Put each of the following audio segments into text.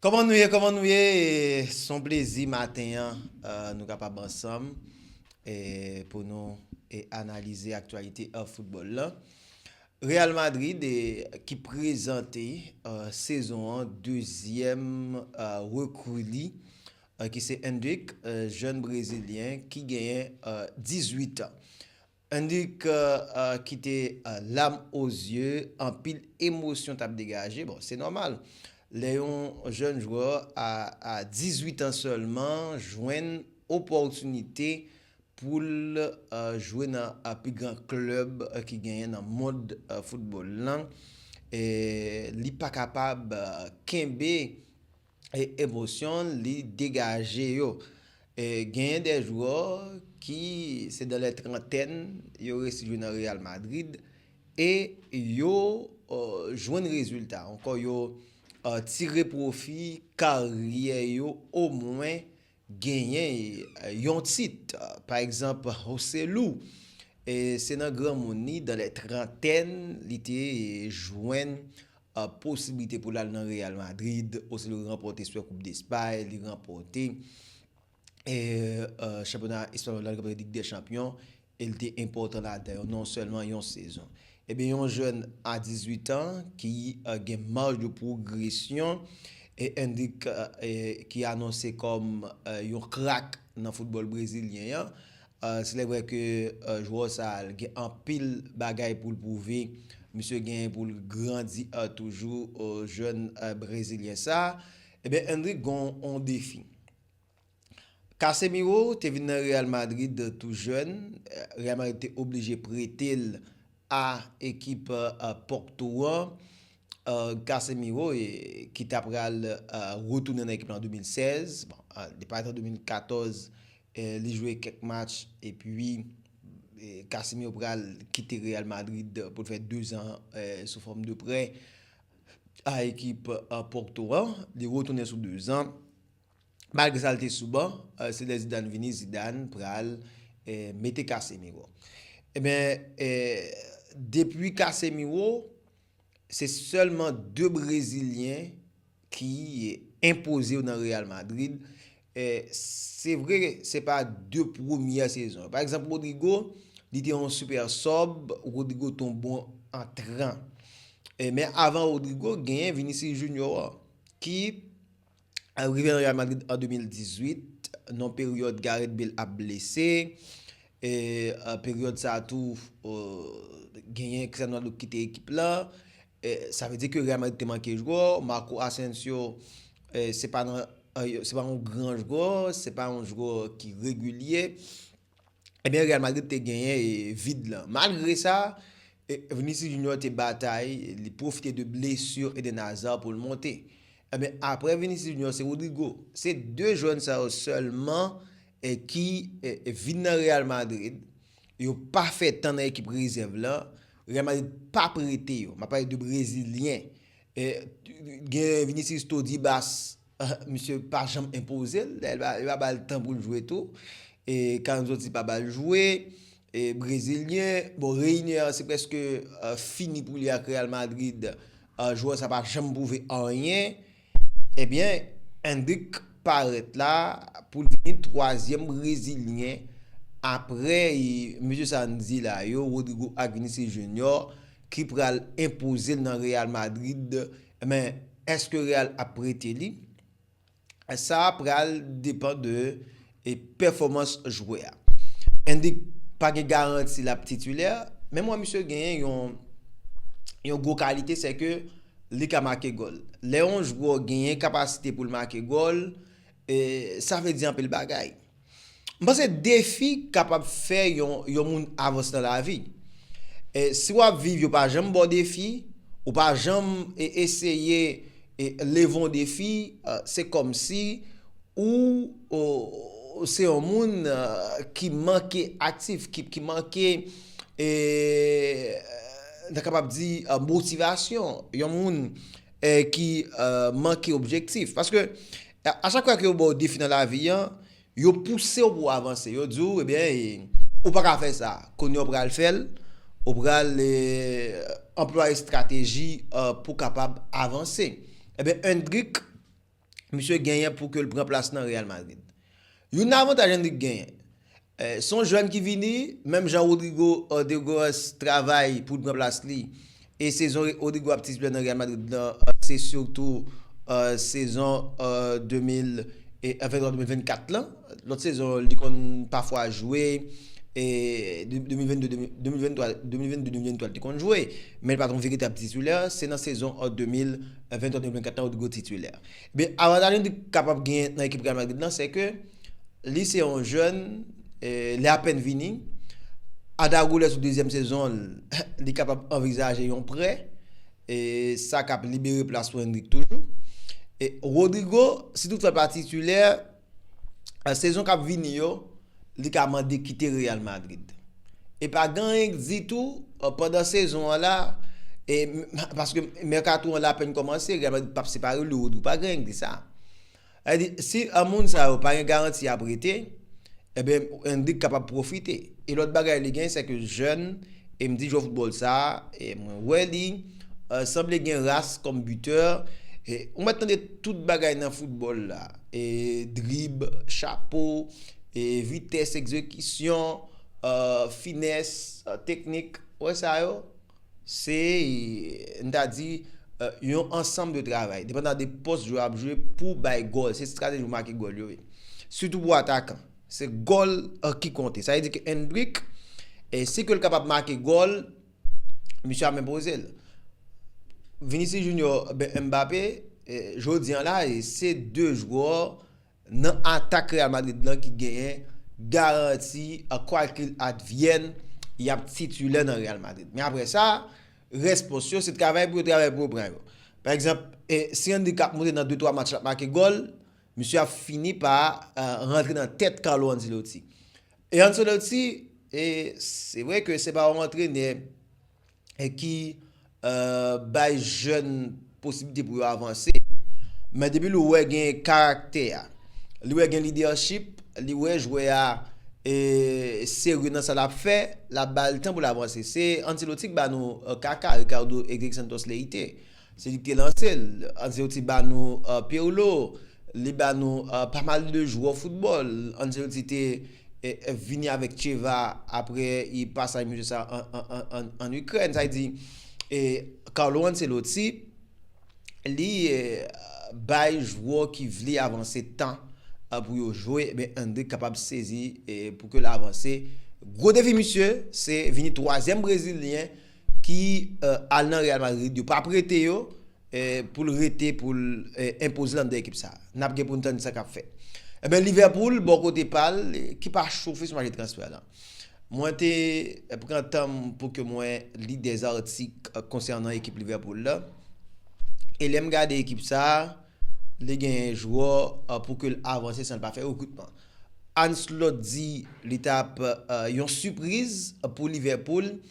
Kòman nou ye, kòman nou ye, son plezi maten an nou kapab ansanm pou nou analize aktualite football la. Real Madrid ki prezante sezon an dezyèm rekri li ki se Endrick, jèn brezilyen ki genyen 18 an. Annik kite lam o zye, anpil emosyon tap degaje. Bon, se nòmal lè yon jèn jwè a 18 an sèlman jwenn opòtinite pou l jwe nan pi gran klèb ki genyen nan mond foutbòl lan, li pa kapab kenbe. e emosyon li degaje yo. Genyen de jwè ki se dan lè trantèn yo resi jwe nan Real Madrid e yo jwenn rezilta. Ankò yo tire pwofi karyè yo omwen Genyen yon tit, pa egzanp José Lu, se nan granmoun li, dans les trentaines, li te jwenn posiblite pou l al nan Real Madrid, osinon li ranpòte Super Coupe d'Espagne, li ranpòte chanpyona espanyòl la, li ranpòte Ligue des Champions, e l te enpòtan ladan yo non sèlman yon sezon. Ebyen yon jèn a 18 an ki gen maj de pwogresyon e Endrick ki anonse kòm yon krak nan foutbòl brezilyen an, slèvrè ke jwè sa a gen anpil bagay pou l pwouve, misye gen pou l grandi toujou jèn brezilyen sa a, ebyen Endrick gen yon defi. Casemiro te vin nan Real Madrid tou jèn, Real Madrid te oblije prete l a ekip Porto an, Casemiro ki ta pral retounen nan ekip la an 2016, bon li paret an 2014 li jwe kèk match epi Casemiro pral kite Real Madrid pou l fè 2 zan sou fòm de prè a ekip Porto an, li retounen sou 2 zan. Malgre sa l te sou ban, se lè Zidane vini Zidane pral mete Casemiro. Enben, depi Casemiro, se sèlman 2 brezilyen ki enpoze yo nan Real Madrid. Se vre, se pa 2 premyè sezon. Pa egzanp Rodrygo, li te yon super sub, Rodrygo te yon bon antran. Men avan Rodrygo, genyen Vinicius Junior ki Al rive nan Real Madrid an 2018, nan peryòd Gareth Bale ap blese, e peryòd sa a tou genyen Cristiano Ronaldo ki kite ekip la, sa vle di ke Real Madrid te manke jwè, Marco Asensio se pa yon gran jwè, se pa yon jwè ki regilye. Ebyen Real Madrid te genyen vid lan. Malgre sa, Vinicius Junior te batay, li pwofite de blesur Eden Hazard pou l monte. Ebyen apre Vinicius Junior se Rodrygo. Se 2 jwèn sa yo sèlman ki vin nan Real Madrid, yo pa fè tan nan ekip rezèv lan, Real Madrid pa prete yo. M ap pale de brezilyen. Gen Vinicius Todibas. Misye pa janm enpoze l, dayè yo pa ba l tan pou l jwe tou. Carlo Ancelotti pa ba l jwe. Brezilyen, bon Reinier se prèske fini pou li ak Real Madrid, jwè sa pa janm pwouve anyen. Ebyen Endrick parèt la pou l vini twazyèm brezilyen aprè mesye sa n di la yo, Rodrygo ak Vinicius Junior ki pral enpoze l nan Real Madrid. Men, èske Real ap prete li? Sa a pral depan de pèfòmans jwè a. Endrick pa gen garanti l ap titilè, men m wè misye genyen yon gwo kalite se ke li ka make gòl. Lè yon jwè genyen kapasite pou l make gòl, sa vle di anpil bagay. M panse defi kapab fè yon moun avanse nan lavi. Si w ap viv yo pa janm ba w defi, ou pa janm eseye leve yon defi, se kòmsi ou se yon moun ki manke aktif, ki manke, n ta kapab di motivasyon, yon moun ki manke objektif. A chak fwa ke yo ba w defi nan lavi an, yo pouse w pou w avanse. Yo di w, ebyen, ou pa ka fè sa. Kounye a ou pral fè l, ou pral anplwaye estrateji pou w kapab avanse. Ebyen, Endrick, misye genyen pou ke l pran plas nan Real Madrid. Youn avantaj Endrick genyen. Se yon jèn ki vini, menm jan Rodrygo de Goes travay pou l pran plas li e sezon Rodrygo ap titulè nan Real Madrid lan se sitou sezon 2023-2024 lan. Lòt sezon li konn pafwa jwe, 2022-2023 li te konn jwe, men li pa t yon veritab titulè, se nan sezon 2023-2024 lan Rodrygo titulè. Men avantaj li kapab genyen nan ekip Real Madrid lan se ke li se yon jèn, li apèn vini, Arda Güler sou dezyèm sezon l, li kapab anvizaje yon prè, sa k ap libere plas pou Endrick toujou. Rodrygo, si tout fè l pa titilè, sezon kap vini yo li ka mande kite Real Madrid. E pa gen anyen k di tou pandan sezon an la e paske mèkato an la apèn kòmanse Real Madrid pap separe li ou di pa gen anyen k di sa. Sa vle di si moun sa yo pa gen garanti yap rete eben Endrick kapab pwofite. E lòt bagay li gen se ke jèn e m di jwè foutbòl sa mwen wè li Sanble gen ras kòm buteur. Ou mèt tande tout bagay nan foutbòl la. Drib, chapo, vitès egzekisyon, finès, teknik. Ou wè sa yo? Se n ta di yon ansanm de travay. Depandan de pòs jwè a ap jwe pou bay gòl. Se estrateji pou make gòl yo ye. Sitou pou atakan. Se gòl ki konte. Sa vle di ke Endrick, si ke l kapab make gòl. Misye ap men poze l. Vinicius Junior, Mbappé, jodi an la, se 2 jwè nan atak Real Madrid lan ki genyen garanti kwa kil advyèn y ap titulè nan Real Madrid. Men apre sa, rès pòs yo, se travay pou yo travay pou yo pran yo. Pa egzanp, si Endrick ap monte nan 2-3 match l ap make gòl, misye ap fini pa rantre nan tèt Carlo Ancelotti. E Ancelotti, e se vre ke se pa yon antrenè ki bay jèn posiblite pou yo avanse, men depi li wè gen karaktè a, li wè gen lidèchip, li wè jwè a serye nan sa l ap fè, l ap ba l tan pou l avanse. Se Ancelotti ki ba nou kaka Ricardo Edrick Santos Leite. Se li ki te lanse l. Ancelotti ba nou Pirlo, li ba nou pa mal de jwè foutbòl. Ancelotti te vini avèk Cheva aprè pasaj misye sa an Ikrèn. Sa vle di, Carlo Ancelotti li bay jwè ki vle avanse tan pou yo jwe. Enben Endrick kapab sezi pou ke l avanse. Gwo defi misye se vini twazyèm brezilyen. ki al nan Real Madrid yo pa prete yo poul rete poul enpoze l anndan ekip sa nap gen poun tann sa kap fèt enben Liverpool bò kote pal ki pa chofe sou mache transfè lan mwen te pran tanm pou ke mwen li de zatik konsènan ekip Liverpool la e lèm gade ekip sa li gen jwè pou ke l avanse san l pa fè rekrutman Anslot di li tap yon sipriz pou Liverpool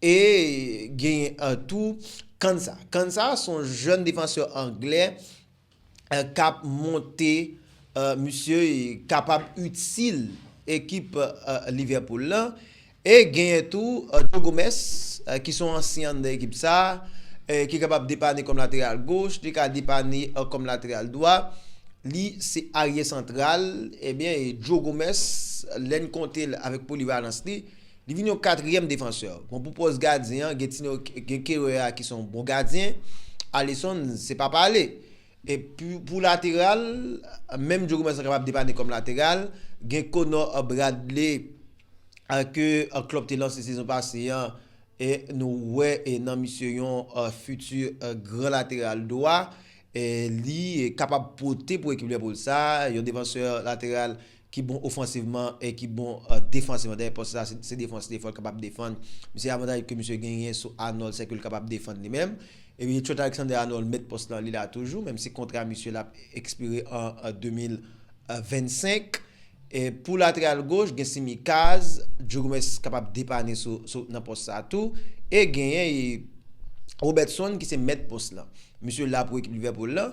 E genyen tou Kansa. Kansa son jèn defansè anglè kap monte, misye kapab itil ekip Liverpool la. E genyen tou Joe Gomez ki son ansyen anndan ekip sa, ki kapab depanne kòm lateral goch, li ka depanne kòm lateral dwa, li se arye santral, ebyen Joe Gomez lèn konte l avèk polivalans li. Li vin yon katriyèm defansè. Bon pou pòs gadyen an gen ti nèg gen Kerrer a ki se yon bon gadyen, Alisson se pa pale. E pou lateral, menm Djo Gomez lan kapab depanne kòm lateral, gen Connor Bradley ke Klopp te lanse sezon pase an e nou wè nan misye yon fiti gran lateral dwa. Li kapab pote pou ekip Liverpool sa, yon defansè lateral ki bon ofansivman e ki bon defansivman, dayè pòs la se defans li fò l kapab defann, se avantaj ke misye genyen sou Arnold sèke l kapab defann li menm, epi Trent Alexander-Arnold mèt pòs lan li la toujou menm si kontra misye la ap ekspire an 2025. Pou lateral goch gen Tsimikas, Joe Gomez kapab depanne sou nan pòs sa tou e genyen Robertson ki se mèt pòs lan, misye la pou ekip Liverpool lan.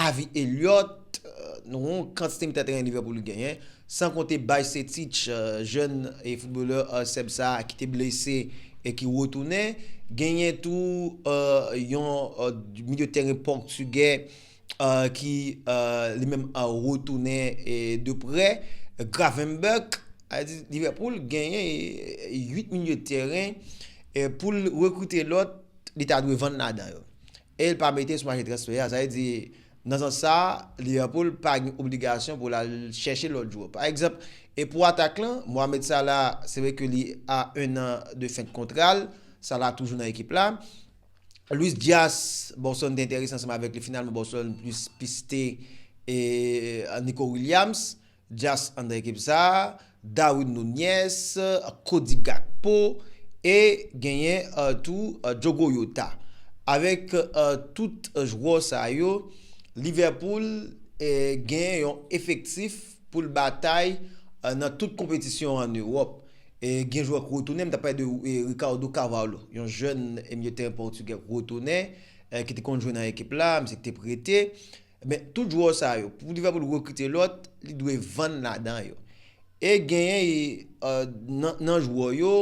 Avi Elliott, Nou wè yon kantite mitan teren Liverpool li genyen, san konte Bajsetic, jèn footbalè Sèb sa a ki te blese e ki retounen. Genyen tou yon milye teren Pòktugè ki li menm retounen de prè, Gravenberch. Sa vle di Liverpool genyen 8 milye teren, pou l rekrite lòt, li ta dwe vann ladan yo. e l pa mete sou mache transfè a, sa vle di nan sans sa a Liverpool pa gen obligasyon pou l al chèche lòt jwè. Pa egzanp, e pou atak lan, Mohamed Salah se vre ke li a 1 an de fen kontra l, Salah toujou nan ekip la. Luis Diaz, Boston te enterese ansanm avèk li, finalman Boston plis piste Nico Williams, Dyas anndan ekip sa, Darwin Nunez, Cody Gakpo e genyen tou Diogo Jota. Avèk tout jwè sa yo, Liverpool genyen yon efektif pou l batay nan tout konpetisyon an Ewòp. Gen jwè k retounen, m ta pale de Ricardo Carvalho, yon jèn milye teren pòtigè k retounen, ki te konn jwe nan ekip la, misye te prete. Men, tout jwè sa yo, pou Liverpool rekrite lòt, li dwe vann ladan yo. E genyen nan jwè yo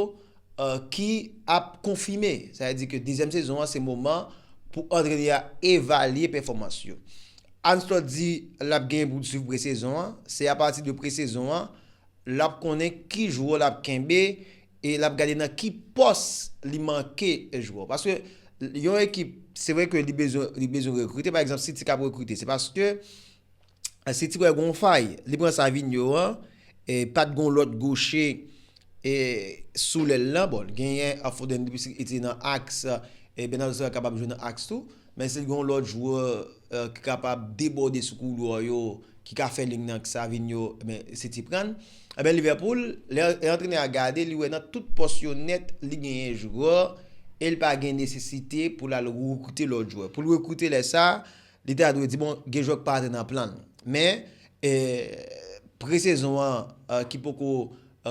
ki ap konfime. Sa vle di ke dezyèm sezon an se moman pou antrenè a evalye pèfòmans yo. Arne Slot di l ap genyen pou l swiv pre-sezon an. Se apati de pre-sezon an l ap konnen ki jwè l ap kenbe. e lap gade nan ki pòs li manke jwè paske yon ekip se vre ke li bezwen li bezwen rekrite pa egzanp city kap rekrite se paske city wè gon fay li pran Savinho an e pat gon lòt goche e sou lèl lan bon genyen Foden depi city nan aks e Bernardo Silva kapab jwe nan aks tou. Men si l gen yon lòt jwè ki kapab debòde sou koulwa yo, ki ka fè liy nan ak Savinho, men se ti prann. Enben Liverpool, lè antrenè a gade, li wè nan tout pòs yo nèt, li genyen jwè e li pa gen nesesite pou l al rekrite lòt jwè. Pou l rekrite lè sa, li ta dwe di bon, gen jwè ki pa antre nan plan l. Men, presezon an ki poko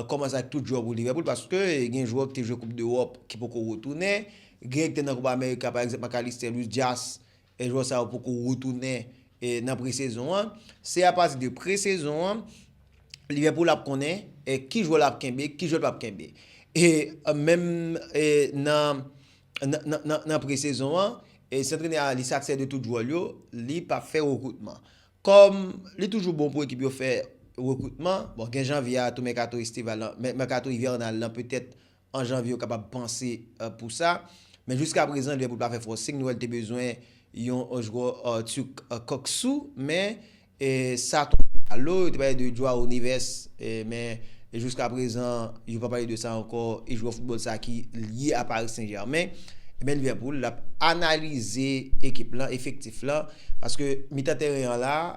kòmanse ak tout jwè pou Liverpool paske gen jwè ki te jwe koup dEròp ki poko retounen, Gen ekte nan Copa America pa egzanp McAllister, Luis Diaz, e jwè sa yo poko retounen nan pre-sezon an. Se apati de pre-sezon an Liverpool ap konnen ki jwè lap kenbe, ki jwè l pap kenbe. E menm nan pre-sezon an, si antrenè a li satisfè de tout jwè l yo, li pap fè rekroutman. Kòm li toujou bon pou ekip yo fè rekroutman, bon gen janvye a tou mèkato estival lan, mèkato ivènal lan petèt an janvye yo kapab panse pou sa. Men jiska prezan Liverpool pa fè forcing, nou wè li te bezwen yon jwè Türk Kuksu men sa tonbe a lo, yo te pale de Joao Neves men jiska prezan yo pa pale de sa ankò e jwè football sa ki lye a Paris Saint Germain. Ebyen Liverpool ap analize ekip lan, efektif lan paske mitan tèren an la.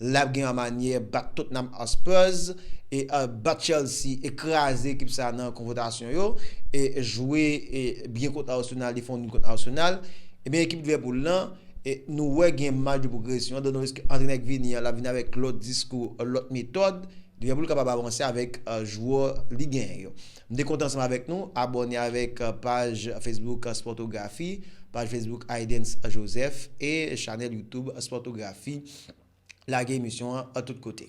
Lap gen an manyè bat Tottenham Hotspurs e bat Chelsea e kraze ekip sa nan konfotasyon yo e jwe byen kont Arsenal li fè yon nul kont Arsenal ebyen ekip Liverpool lan nou wè gen maj de pwogresyon donk nou wè ke antrenè k vini an lap vini avèk lòt diskou lòt metòd Liverpool kapab avanse avèk jwè li genyen yo m te kontan ansanm avèk nou abòne avèk paj Facebook Sportographie paj Facebook Aydens Joseph e chanèl YouTube Sportographie. lage emisyon an tout kote.